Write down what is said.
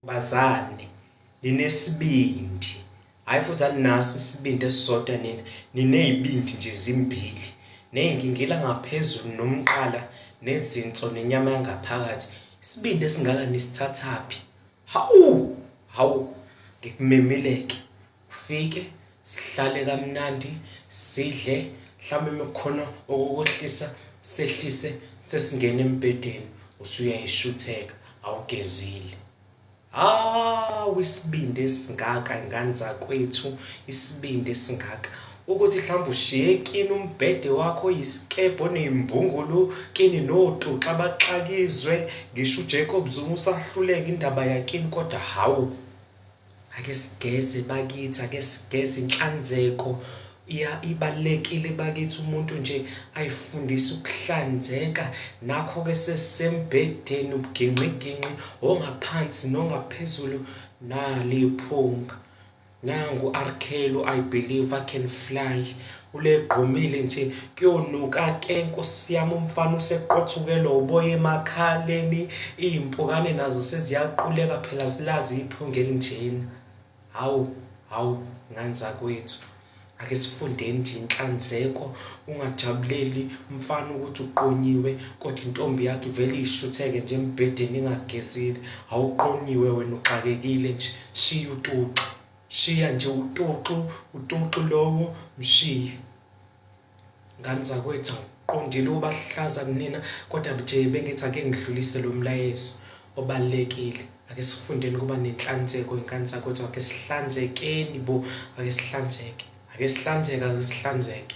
bazane ninesibindi hhayi futhi aninaso isibindi esisodwa nina niney'bindi nje zimbili ney'nkingila ngaphezulu nomqala nezinso nenyama yangaphakathi isibindi esingaka nisithathaphi hawu hawu ngikumemeleke Ufike sihlale kamnandi sidle mhlawumbe mekukhona okukohlisa sehlise sesingena embhedeni usuyayishutheka awugezile hawu isibindi esingaka ingane zakwethu isibindi esingaka ukuthi mhlawumbe ushiye kini umbhede wakho oyisikebhe oneyimbungulu kini notuxa baxakizwe ngisho uJacob Zuma usahluleka indaba yakini kodwa hawu Ake sigeze bakithi, ake sigeze inhlanzeko ya ibalekile bakithi umuntu nje ayifundisa ukuhlanzeka nakho ke sesembedeni ubugingqiginqi ongaphansi nongaphezulu naliphunga nangu arkhelu i believe i can fly Ulegqumile nje kuyonuka ke nkosi yami umfana useqothukele uboya emakhaleni izimpukane nazo seziyaquleka phela silazi iphunga elinjena hawu hawu ngane zakwethu ake sifundeni nje inhlanzeko ungajabuleli umfana ukuthi uqonyiwe kodwa intombi yakhe ivele ishutheke nje embhedeni ingagezile awuqonyiwe wena uxakekile nje shiya utuxa Shiya nje utoxo utoxo lowo mshiye. Ngani zakwethu ngiqondile ubahlaza kunina kodwa nje bengithi ake ngidlulise lo mlayezo obalekile. Ake sifundeni kuba nenhlanzeko ingane zakwethu ake sihlanzekeni bo ake sihlanzeke. Ake sihlanzeke ake sihlanzeke.